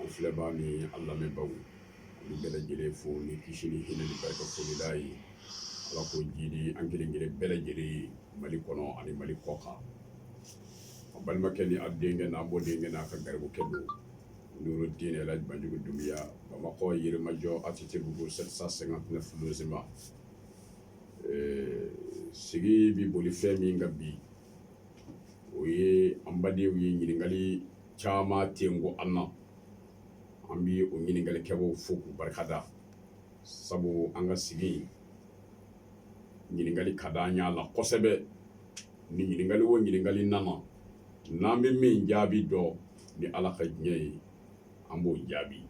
an filɛbaaw ni an lamɛnbaaw an bɛ bɛɛ lajɛlen fo ni kisi ni hinɛ ni barika foli ye Ala k'o jiidi an kelen-kelen bɛɛ lajɛlen ye Mali kɔnɔ ani Mali kɔkan a balimakɛ ni a denkɛ n'a mɔdenkɛ n'a ka garibukɛ don Nuru Dine El Hadj Banjugu Dunbiya Bamakɔ Yirimajɔ ATTbugu 759 logements ee sigi bɛ boli fɛn min kan bi o ye an badenw ye ɲininkali caman tɛ ko an na an bɛ o ɲininkalikɛbaaw fo k'u barika da sabu an ka sigi ɲininkali ka di an ɲɛ la kosɛbɛ ni ɲininkali o ɲininkali nana n'an bɛ min jaabi dɔn ni ala ka diɲɛ ye an b'o jaabi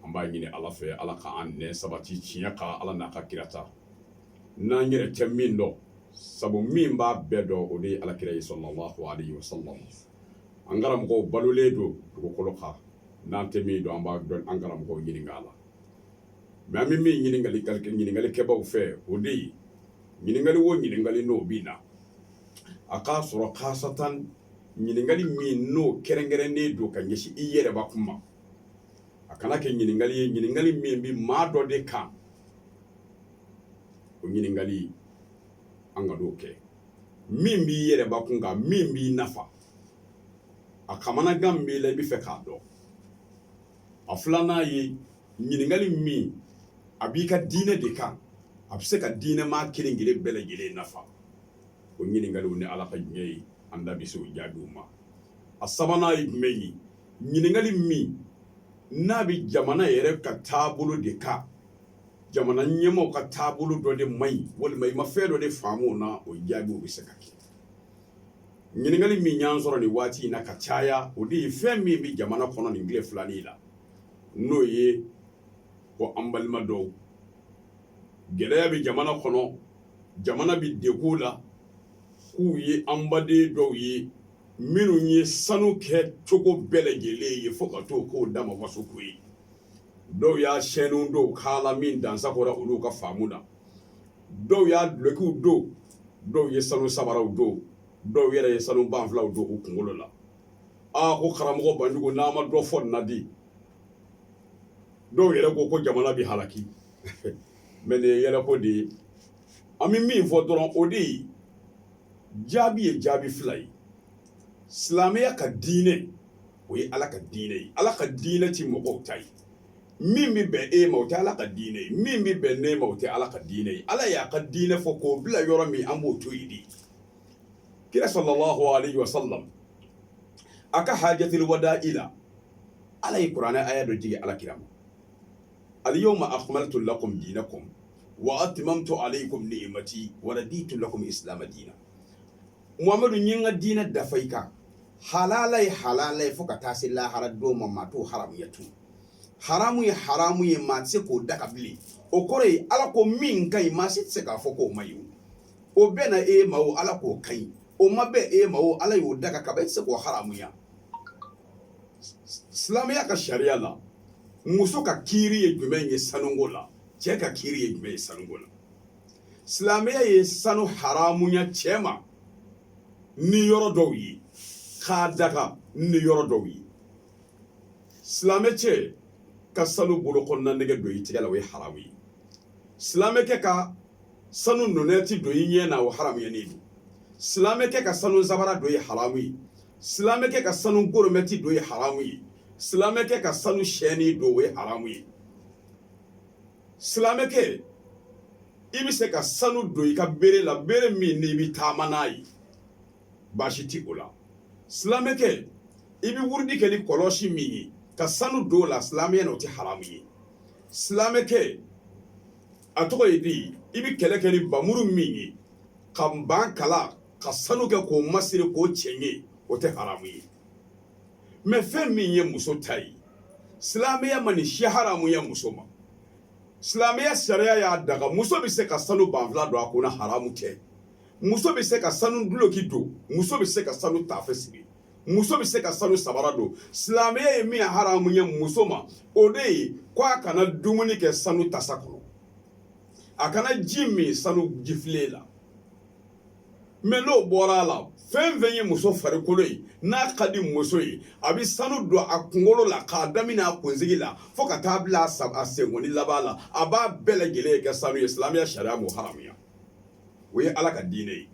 an b'a ɲini ala fɛ ala k'an nɛn sabati tiɲɛ kan ala n'a ka kira ta n'an yɛrɛ tɛ min dɔn sabu min b'a bɛɛ dɔn o de ye ala kira ye sallallahu alaihi wasallam an karamɔgɔw balolen don dugukolo kan n'an tɛ min dɔn an b'an karamɔgɔw ɲininka a la mais an bɛ min ɲini ɲininkalikɛbaaw fɛ o de ye ɲininkali wo ɲininkali n'o bɛ na a k'a sɔrɔ kaasatan ɲininkali min n'o kɛrɛnkɛrɛnnen don ka ɲɛsin i yɛrɛ bakun ma a kana kɛ ɲininkali ye ɲininkali min bɛ maa dɔ de kan o ɲininkali an kan'o kɛ min b'i yɛrɛ bakun kan min b'i nafa a kamanagan b'i la i bɛ fɛ k'a dɔn a filanan ye ɲininkali min a b'i ka diinɛ de kan a bɛ se ka diinɛ maa kelen kelen bɛɛ lajɛlen nafa o ɲininkaliw ni ala ka diɲɛ ye an da bɛ se o jaabiw ma a sabanan ye jumɛn ye ɲininkali min n'a bɛ jamana yɛrɛ ka taabolo de kan jamana ɲɛmaaw ka taabolo dɔ de man ɲi walima i ma fɛn dɔ de faamu o na o jaabiw bɛ se ka kɛ ɲininkali min y'an sɔrɔ nin waati in na ka caya o de ye fɛn min bɛ jamana kɔnɔ nin tile filanin la n'o ye ko an balima dɔw gɛlɛya bɛ jamana kɔnɔ jamana bɛ degun la k'u ye an baden dɔw ye minnu ye sanu kɛ cogo bɛɛ lajɛlen ye fo ka t'o k'u dama wasoko ye dɔw y'a shɛniw don kan la min dansagonna olu ka faamu na dɔw y'a dulɔkiw don dɔw ye sanu sabaraw don dɔw yɛrɛ ye sanu banfulaw don u kunkolo la aa ko karamɔgɔ banjugu n'a ma dɔ fɔ nin na di dɔw yɛrɛ ko ko jamana bɛ halaki mais nin ye yɛlɛko de ye an bɛ min fɔ dɔrɔn o de ye jaabi ye jaabi fila ye silamɛya ka diinɛ o ye ala ka diinɛ ye ala ka diinɛ tɛ mɔgɔw ta ye min bɛ bɛn e ma o tɛ ala ka diinɛ ye min bɛ bɛn ne ma o tɛ ala ka diinɛ ye ala y'a ka diinɛ fɔ k'o bila yɔrɔ min an b'o to yen de kira sallallahu alaihi wa sallam a ka hajatil wada'i la ala ye kuranɛ aya dɔ jigin ala kira ma alyawma akmaltu lakum dinakum wa atmamtu alaykum ni'mati wa raditu lakumul islama dina muhamadu n y'i ka diinɛ dafa i kan halala ye halala ye fo ka taa se lahara don ma maa t'o haramuya tun haramu ye haramu ye maa tɛ se k'o daga bilen o kɔrɔ ye ala ko min ka ɲi maa si tɛ se k'a fɔ k'o man ɲi o bɛnna e ma o ala k'o ka ɲi o ma bɛn e ma o ala y'o daga kaban e tɛ se k'o haramuya silamɛya ka sariya la muso ka kiiri ye jumɛn ye sanuko la cɛ ka kiiri ye jumɛn ye sanuko la silamɛya ye sanu haramuya cɛ ma ni yɔrɔ dɔw ye k'a daga ni yɔrɔ dɔw ye silamɛ cɛ ka sanu bolokɔnina nɛgɛ don i tɛgɛ la o ye haramu ye silamɛkɛ ka sanu nɔnɛti don i ɲɛ na o haramuyanen don silamɛkɛ ka sanu sabara don ye haramu ye silamɛ kɛ ka sanu goromɛti don ye haramu ye silamɛ kɛ ka sanu sɛni don o ye haramu ye silamɛ kɛ i bɛ se ka sanu don i ka bere la bere min n'i bɛ taama n'a ye baasi ti o la silamɛ kɛ i bɛ wurudi kɛ ni kɔlɔsi min ye ka sanu don o la silamɛya n'o tɛ haramu ye silamɛ kɛ a tɔgɔ ye di i bɛ kɛlɛ kɛ ni npanmuru min ye ka npan kala ka sanu kɛ k'o masiri k'o cɛɲɛ o tɛ haramu ye mɛ fɛn min ye muso ta ye silamɛya ma nin si haramuya muso ma silamɛya sariya y'a daga muso bɛ se ka sanu banfula don a kun na haramu tɛ muso bɛ se ka sanu duloki don muso bɛ se ka sanu tafe siri muso bɛ se ka sanu sabara don silamɛya ye min haramuya muso ma o de ye ko a kana dumuni kɛ sanu tasa kɔnɔ a kana ji min sanu jifilen la mɛ n'o bɔra a la fɛn fɛn ye muso farikolo ye n'a ka di muso ye a bɛ sanu don a kunkolo la k'a daminɛ a kunsigi la fo ka taa bila a senkɔni laban la a b'a bɛɛ lajɛlen kɛ sanu ye silamɛya sariya m'o haramuya o ye ala ka diinɛ ye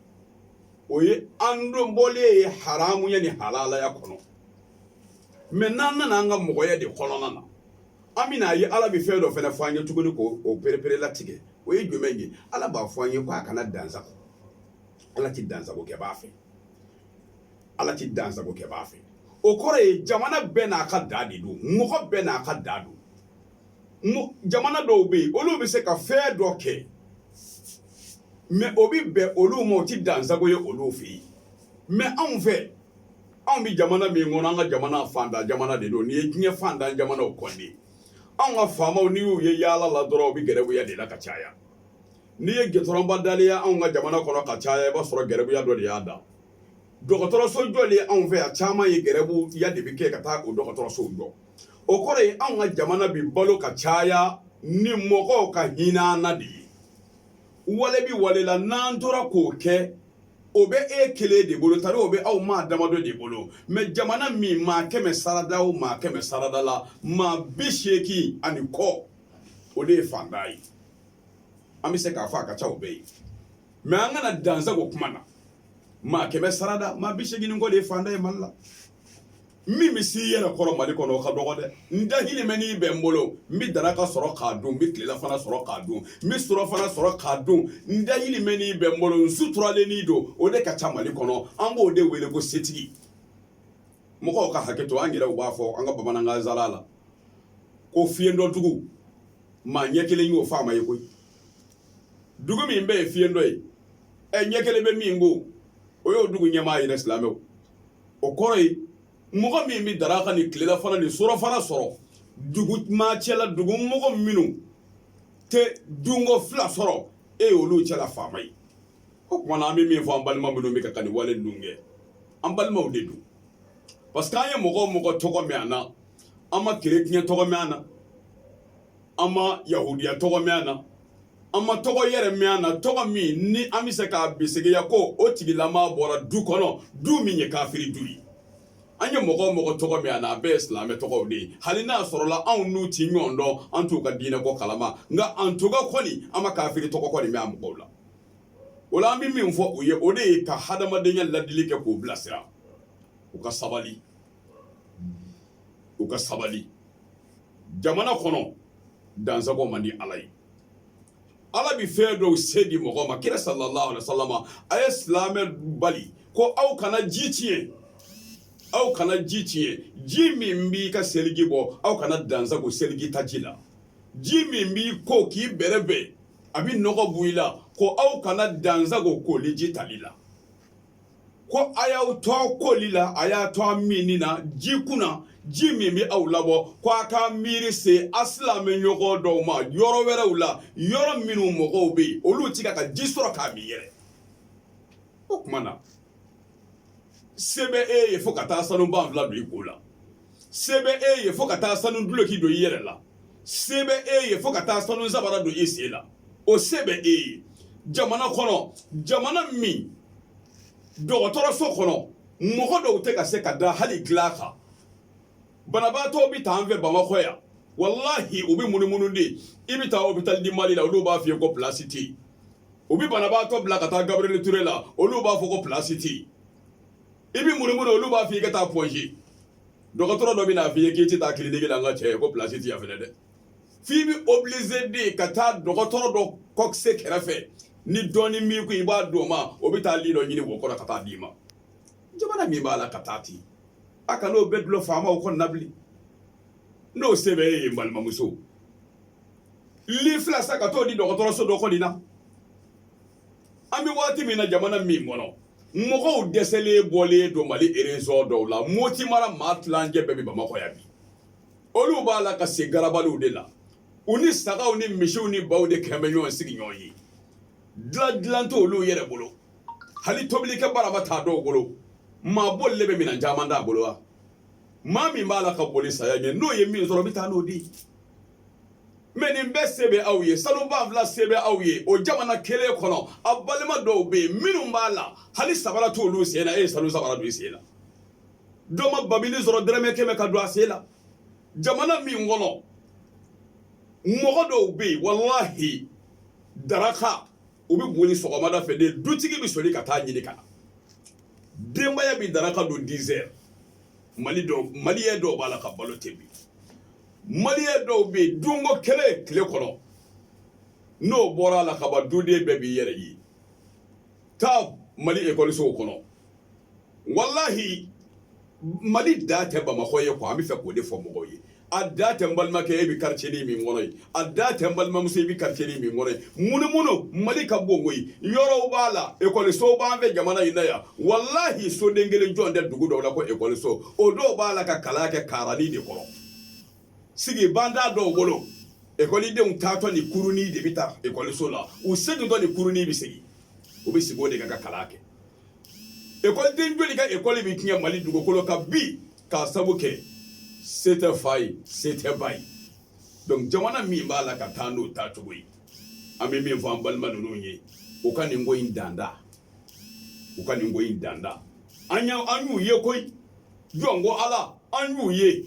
o ye an donbɔlen ye haramuya ni halalaya kɔnɔ mɛ n'an nana an ka mɔgɔya de kɔnɔna na An bɛna a ye ala bɛ fɛn dɔ fana fɔ an ye tuguni ko o perepere latigɛ o ye jumɛn ye ala b'a fɔ an ye ko a kana dansago ala tɛ dansago kɛbaa fɛ ala tɛ dansago kɛbaa fɛ o kɔrɔ ye jamana bɛɛ n'a ka da de don mɔgɔ bɛɛ n'a ka da don jamana dɔw bɛ yen olu bɛ se ka fɛn dɔ kɛ mais o bɛ bɛn olu ma o tɛ dansago ye olu fɛ yen mais anw fɛ anw bɛ jamana min kɔnɔ an ka jamana faantan jamana de don n'i ye diɲɛ faantan jamanaw kɔnte anw ka faamaw n'i y'u ye yaala la dɔrɔn u bɛ gɛrɛbuya de la ka caya n'i ye gudɔrɔnba dalen ye anw ka jamana kɔnɔ ka caya i b'a sɔrɔ gɛrɛbuya dɔ de y'a da dɔgɔtɔrɔso jɔlen ye anw fɛ yan caman ye gɛrɛbuya de bɛ kɛ ka taa o dɔgɔtɔrɔsow jɔ o kɔrɔ ye anw ka jamana bɛ balo ka caya ni mɔgɔw ka hinɛ an na de ye wale bi wale la n'an tora k'o kɛ o bɛ e kelen de bolo tari o bɛ aw maa damadɔ de bolo mais jamana min maa kɛmɛ sarada o maa kɛmɛ sarada la maa bi seegin ani kɔ o de ye faantan ye an bɛ se k'a fɔ a ka ca o bɛɛ ye mais an kana dansago kuma na maa kɛmɛ sarada maa bi seegin ni kɔ de ye faantan ye mali la min bɛ se i yɛrɛ kɔrɔ Mali kɔnɔ o ka dɔgɔ dɛ, n dahirimɛnin bɛ n bolo n bɛ daraka sɔrɔ k'a dun n bɛ tilelafana sɔrɔ k'a dun n bɛ surɔfana sɔrɔ k'a dun n dahirimɛnin bɛ n bolo n suturalennin don o de ka ca Mali kɔnɔ an b'o de wele ko setigi mɔgɔw ka hakɛ to an yɛrɛw b'a fɔ an ka bamanankan zala la ko fiyentɔdugu maa ɲɛ kelen y'o faama ye koyi dugu min bɛɛ ye fiyentɔ ye ɛ ɲɛ kelen bɛ min kun o y'o dugu ɲɛmaa ye dɛ silamɛw o kɔrɔ ye mɔgɔ min bɛ daraka ni tilelafana ni surɔfana sɔrɔ dugu maa cɛla dugu mɔgɔ minnu tɛ dunko fila sɔrɔ e ye olu cɛla faama ye o tuma na an bɛ min fɔ an balima minnu bɛ ka ka nin wale ninnu kɛ an balimaw de don parce que an ye mɔgɔ o mɔgɔ tɔgɔ mɛn an na an ma kerecɛn tɔgɔ mɛn an na an ma yahudiya tɔgɔ mɛn an na an ma tɔgɔ yɛrɛ mɛn an na tɔgɔ min ni an bɛ se k'a bisegiya ko o tigilama bɔra du kɔnɔ du min ye kafiri du ye an ye mɔgɔ o mɔgɔ tɔgɔ mɛn a na a bɛɛ ye silamɛ tɔgɔw de ye hali n'a sɔrɔla anw n'u ti ɲɔgɔn dɔn an t'u ka diinɛko kalama nka an tɔgɔ kɔni an ma kafiri tɔgɔ kɔni mɛn a mɔgɔw la o la an bɛ min fɔ u ye o de ye ka hadamadenya ladili kɛ k'u bilasira u ka sabali u ka sabali jamana kɔnɔ dansago man di ala ye ala bɛ fɛn dɔw se di mɔgɔ ma kira sallallahu alaihi wasallam a ye silamɛ bali ko aw kana ji tiɲɛ aw kana ji tiɲɛ ji min b'i ka seliji bɔ aw kana dansago seliji ta ji la ji min b'i ko k'i bɛrɛbɛn a bɛ nɔgɔ bɔ i la ko aw kana dansago koli ji tali la ko a y'aw to a koli la a y'a to a minni na ji kunna ji min bɛ aw labɔ ko a ka miiri se a silamɛ ɲɔgɔn dɔw ma yɔrɔ wɛrɛw la yɔrɔ minnu mɔgɔw bɛ yen olu ti ka ka ji sɔrɔ k'a min yɛrɛ o tuma na se bɛ e ye fo ka taa sanu banfula don i kun la se bɛ e ye fo ka taa sanu duloki don i yɛrɛ la se bɛ e ye fo ka taa sanu sabara don i sen la o se bɛ e ye jamana kɔnɔ jamana min dɔgɔtɔrɔso kɔnɔ mɔgɔ dɔw tɛ ka se ka da hali dilan kan banabaatɔ bɛ taa an fɛ bamakɔ yan walahi u bɛ munumunu de i bɛ taa hôpital du mali la olu b'a f'i ye ko pilasi tɛ yen u bɛ banabaatɔ bila ka taa gabriel ture la olu b'a fɔ ko pilasi tɛ yen i bɛ munumunu olu b'a fɔ i ka taa pɔnze dɔgɔtɔrɔ dɔ bɛ n'a fɔ i ye k'i tɛ taa kiliniki la n ka cɛ ko pilasi ti yan fɛnɛ dɛ f'i bɛ obilize de ka taa dɔgɔtɔrɔ dɔ kɔkise kɛrɛfɛ ni dɔɔni min ko i b'a di o ma o bɛ taa li dɔ ɲini wo kɔrɔ ka taa d'i ma jamana min b'a la ka taa ten a kana o bɛɛ dulon faamaw kɔni na bilen n'o se bɛ e ye balimamuso li fila san ka t'o di dɔgɔtɔrɔso dɔ kɔni na an bɛ waati min na jamana min kɔnɔ mɔgɔw dɛsɛlen bɔlen don mali erezɔn dɔw la moti mara maa tilancɛ bɛɛ bɛ bamakɔ yan bi olu b'a la ka si garabaliw de la u ni sagaw ni misiw ni baw de kɛlen bɛ ɲɔgɔn sigiɲɔgɔn ye dilan dilan t'olu yɛrɛ bolo hali tobilikɛ barama t'a dɔw bolo maa bolilen bɛ minɛn caman t'a bolo wa maa min b'a la ka boli saya ɲɛ n'o ye min sɔrɔ bɛ taa n'o di mɛ nin bɛɛ se bɛ aw ye sanu banfula se bɛ aw ye o jamana kelen kɔnɔ aw balima dɔw bɛ yen minnu b'a la hali sabara t'olu sen na e ye sanu sabara don i sen na dɔ ma babili sɔrɔ dɔrɔmɛ kɛmɛ ka don a sen la jamana min kɔnɔ mɔgɔ dɔw bɛ yen walahi daraka u bɛ boli sɔgɔmada fɛ de dutigi bɛ soli ka taa ɲini ka na denbaya bɛ daraka don dizɛri maliyɛ dɔw b'a la ka balo ten bi maliyɛ dɔw bɛ yen dunko kelen tile kɔnɔ n'o bɔra a la kaban duden bɛɛ b'i yɛrɛ ye taa mali ekɔlisow kɔnɔ walahi mali dan tɛ bamakɔ ye ko an bɛ fɛ k'o de fɔ mɔgɔw ye a dan tɛ n balimakɛ e bɛ quartier ni min kɔnɔ ye a dan tɛ n balimamuso i bɛ quartier ni min kɔnɔ ye munumunu mali ka bon koyi yɔrɔw b'a la ekɔlisow b'an fɛ jamana in na yan walahi soden kelen jɔlen tɛ dugu dɔw la ko ekɔliso o dɔw b'a la ka kalan kɛ karani de kɔrɔ sigi ban t'a dɔw bolo ekɔlidenw taatɔ ni kuruni de bɛ taa ekɔliso la u segintɔ ni kuruni bɛ segin u bɛ sigi o de kan ka kalan kɛ ekɔliden joli ka ekɔli bɛ tiɲɛ mali dugukolo kan bi k'a sabu kɛ se tɛ fa ye se tɛ ba ye donc jamana min b'a la ka taa n'o taacogo ye an bɛ min fɔ an balima ninnu ye u ka nin ko in danda u ka nin ko in danda an y'a an y'u ye koyi jɔn ko ala an y'u ye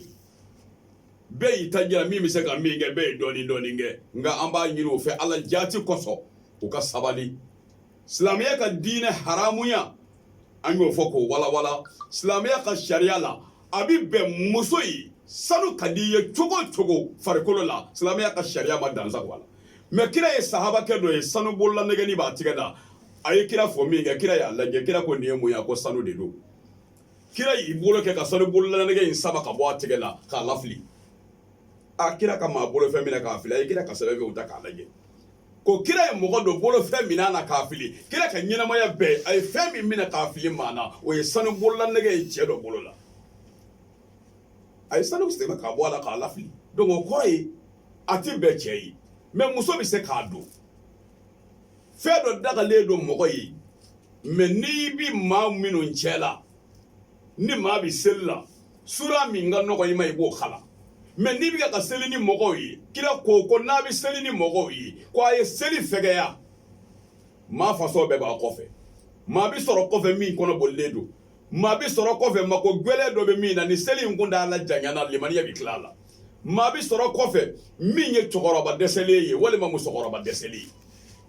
bɛɛ y'i ta jira min bɛ se ka min kɛ bɛɛ ye dɔɔnin dɔɔnin kɛ nka an b'a ɲini u fɛ ala jaati kosɔn u ka sabali silamɛya ka diinɛ haramuya an y'o fɔ k'o walawala silamɛya ka sariya la a bɛ bɛn muso ye sanu ka di i ye cogo o cogo farikolo la silamɛya ka sariya ma dansa bɔ a la mɛ kira ye sahabakɛ dɔ ye sanu bolola nɛgɛni b'a tigɛ la a ye kira fo min kɛ kira y'a lajɛ kira ko nin ye mun ye a ko sanu de don kira y'i bolo kɛ ka sanu bolola nɛgɛ in sama ka bɔ a tigɛ la k'a lafili a kira ka maa bolofɛn minɛ k'a fili a ye kira ka sɛbɛn bɛɛ ta k'a lajɛ ko kira ye mɔgɔ dɔ bolofɛn minɛ a na k'a fili kira ka ɲɛnamaya bɛɛ a ye fɛn min minɛ k'a fili maa na o ye sanu bolola nɛgɛ ye cɛ dɔ bolo la a ye sanu sama k'a bɔ a la k'a lafili donc o kɔrɔ ye a ti bɛn cɛ ye mɛ muso bɛ se k'a don fɛn dɔ dagalen don mɔgɔ ye mɛ n'i bi maa minnu cɛ la ni maa bɛ seli la sura min ka nɔgɔ i ma i b'o kalan mɛ n'i bɛ ka seli ni mɔgɔw ye kira ko ko n'a bɛ seli ni mɔgɔw ye ko a ye seli fɛgɛya maa fasɔn bɛɛ b'a kɔfɛ maa bɛ sɔrɔ kɔfɛ min kɔnɔ bolilen don maa bɛ sɔrɔ kɔfɛ mako gɛlɛn dɔ bɛ min na ni seli in kuntaala janyana limaniya bɛ tila a la maa bɛ sɔrɔ kɔfɛ min ye cɛkɔrɔba dɛsɛlen ye walima musokɔrɔba dɛsɛlen ye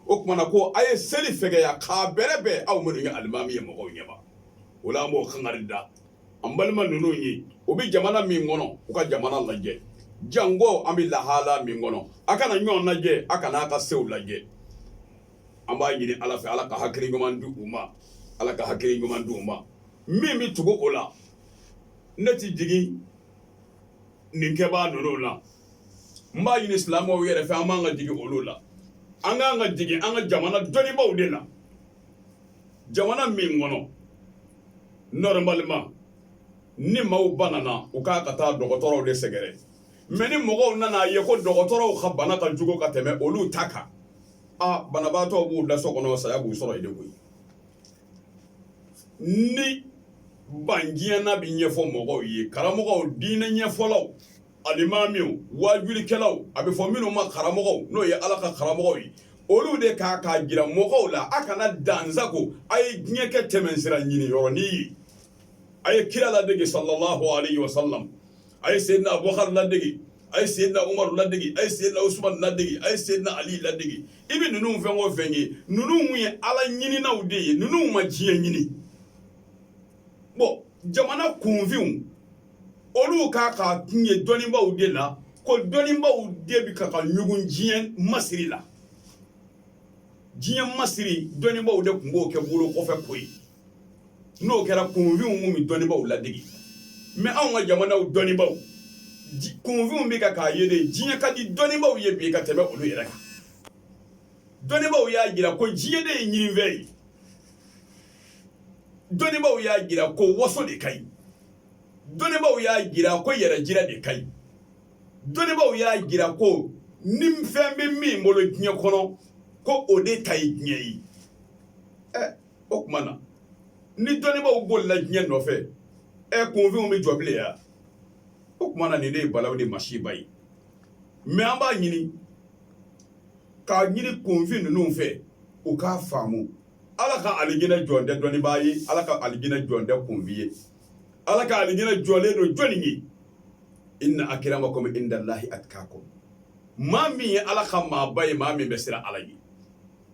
o tuma na ko a ye seli fɛgɛya k'a bɛrɛbɛn aw minnu ye alimami ye mɔgɔw ɲɛma o la an b'o kangari da an balima ninnu ye u bɛ jamana min kɔnɔ u ka jamana lajɛ jankɔ an bɛ lahala min kɔnɔ a kana ɲɔgɔn lajɛ a kana a ka sew lajɛ an b'a ɲini ala fɛ ala ka hakili ɲuman di u ma ala ka hakili ɲuman di u ma min bɛ tugu o la ne tɛ digi nin kɛbaa ninnu la n b'a ɲini silamɛw yɛrɛ fɛ an man kan ka digi olu la an ka kan ka digi an ka jamana dɔnnibaaw de la jamana min kɔnɔ normalement ni maaw banana u ka kan ka taa dɔgɔtɔrɔw de sɛgɛrɛ mɛ ni mɔgɔw nana a ye ko dɔgɔtɔrɔw ka bana ka jugu ka tɛmɛ olu ta kan a banabaatɔw b'u da so kɔnɔ saya b'u sɔrɔ yen de koyi ni banna bɛ ɲɛfɔ mɔgɔw ye karamɔgɔw diinɛ ɲɛfɔlaw alimamiw wajulikɛlaw a bɛ fɔ minnu ma karamɔgɔ n'o ye ala ka karamɔgɔ ye olu de ka k'a jira mɔgɔw la a kana dansago a ye diɲɛ kɛ tɛmɛsira ɲini yɔrɔnin ye a ye kira ladege sallallahu alayhi wa sallam a ye seyidina abubakari ladege a ye seyidina umari ladege a ye seyidina usmani ladege a ye seyidina ali ladege i bɛ ninnu fɛn o fɛn ye ninnu ye ala ɲininaw de ye ninnu ma diɲɛ ɲini bon jamana kunfinw olu k'a k'a kun ye dɔnnibaaw de la ko dɔnnibaaw de bɛ ka ka ɲugun diɲɛ masiri la diɲɛ masiri dɔnnibaaw de tun b'o kɛ bolo kɔfɛ koyi n'o kɛra kunfinw tun bɛ dɔnnibaaw ladege mɛ anw ka jamanaw dɔnnibaaw kunfinw bɛ ka k'a ye de diɲɛ ka di dɔnnibaaw ye bi ka tɛmɛ olu yɛrɛ kan dɔnnibaaw y'a jira ko diɲɛ de ye ɲinifɛn ye dɔnnibaaw y'a jira ko waso de ka ɲi dɔnnibaaw y'a jira ko yɛrɛjira de ka ɲi dɔnnibaaw y'a jira ko ni fɛn bɛ min bolo diɲɛ kɔnɔ ko o de ta ye diɲɛ ye ɛ o tuma na ni dɔnnibaaw bolila diɲɛ nɔfɛ ɛ kunfinw bɛ jɔ bilen ya o tuma na nin de ye balaw ni masiba ye mɛ an b'a ɲini k'a ɲini kunfin ninnu fɛ u k'a faamu ala ka alijinɛ jɔlen tɛ dɔnnibaa ye ala ka alijinɛ jɔlen tɛ kunfin ye ala ka alijinɛ jɔlen don jɔnni ye inna akramakum indallahi atqakum maa min ye ala ka maaba ye maa min bɛ siran ala ye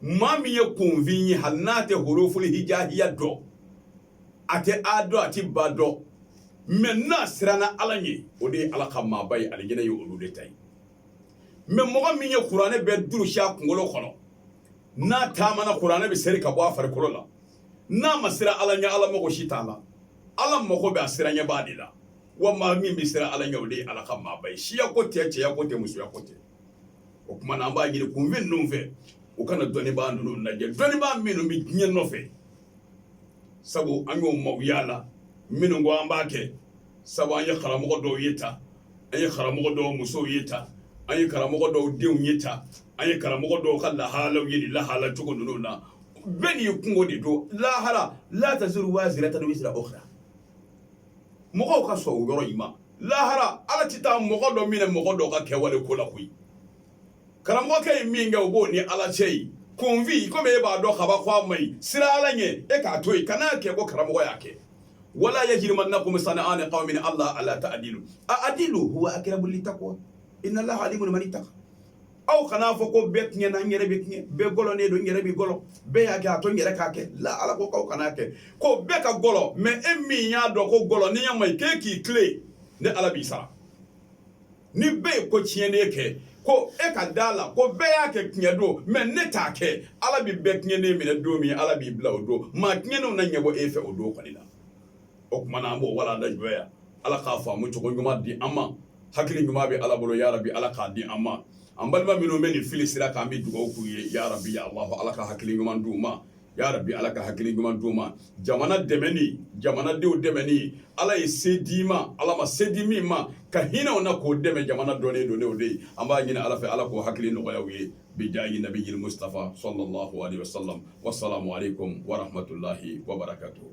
maa min ye kunfin ye hali n'a tɛ huruful hijaiya dɔn a tɛ a dɔn a tɛ ba dɔn mɛ n'a siranna ala ye o de ye ala ka maaba ye alijinɛ ye olu de ta ye mɛ mɔgɔ min ye kuranɛ bɛɛ durusi a kunkolo kɔnɔ n'a taamana kuranɛ bɛ seri ka bɔ a farikolo la n'a ma siran Ala ɲɛ Ala mago si t'a la Ala mago bɛ a siranɲɛbaa de la wa maa min bɛ siran Ala ɲɛ o de ye Ala ka maaba ye siya ko tɛ cɛya ko tɛ musoya ko tɛ o tuma na an b'a ɲini kunfin ninnu fɛ u kana dɔnnibaa ninnu lajɛ dɔnnibaa minnu bɛ diɲɛ nɔfɛ sabu an y'o maaw y'a la minnu ko an b'a kɛ sabu an ye karamɔgɔ dɔw ye tan an ye karamɔgɔ dɔw musow ye tan an ye karamɔgɔ dɔw denw ye tan an ye karamɔgɔ dɔw ka lahalaw ye nin lahala cogo ninnu na bɛɛ n'i kunko de don lahara la taziru waziratun wizra ukhra mɔgɔw ka sɔn o yɔrɔ in ma lahara ala tɛ taa mɔgɔ dɔ minɛ mɔgɔ dɔ ka kɛwale ko la koyi karamɔgɔkɛ ye min kɛ o b'o ni ala cɛ e kunfin komi e b'a dɔn kaban ko a ma ɲi siran ala ɲɛ e k'a to yen kana n'a kɛ ko karamɔgɔ y'a kɛ wala yajrimannakum sana'an qawmin ala alla ta'dilu a'dilu huwa aqrabu littaqwa inna allaha alimun man ittaqa aw kana n'a fɔ ko bɛɛ tiɲɛna n yɛrɛ bɛ tiɲɛ bɛɛ gɔlɔnen don n yɛrɛ bɛ gɔlɔ bɛɛ y'a kɛ a to n yɛrɛ k'a kɛ la ala ko aw kana kɛ ko bɛɛ ka gɔlɔ mɛ e min y'a dɔn ko gɔlɔniya ma ɲi k'e k'i tilen ne ala b'i sara ni bɛɛ ye ko tiɲɛnen kɛ ko e ka da a la ko bɛɛ y'a kɛ tiɲɛ don mɛ ne t'a kɛ ala bɛ bɛɛ tiɲɛnen minɛ don min ala b'i bila o don maa tiɲɛnenw na ɲɛbɔ e fɛ o don kɔni na o tuma na an b'o walanda jɔ yan ala ka faamucogo ɲuman di an ma hakili ɲuman bɛ ala bolo ya rabi ala k'a di an ma an balima minnu bɛ nin filisira kan an bɛ dugawu k'u ye ya rabi ya allahu ala ka hakili ɲuman di u ma ya rabi ala ka hakili ɲuman d'u ma jamana dɛmɛ ni jamanadenw dɛmɛ ni ala ye se d'i ma ala ma se di min ma ka hinɛ o na k'o dɛmɛ jamana dɔnnen don n'o de ye an b'a ɲini ala fɛ ala k'o hakili nɔgɔya u ye bijahi nabiyil mustafa sallallahu alaihi wasallam wassalamu alaikum warahamatulayi wabarakatuhu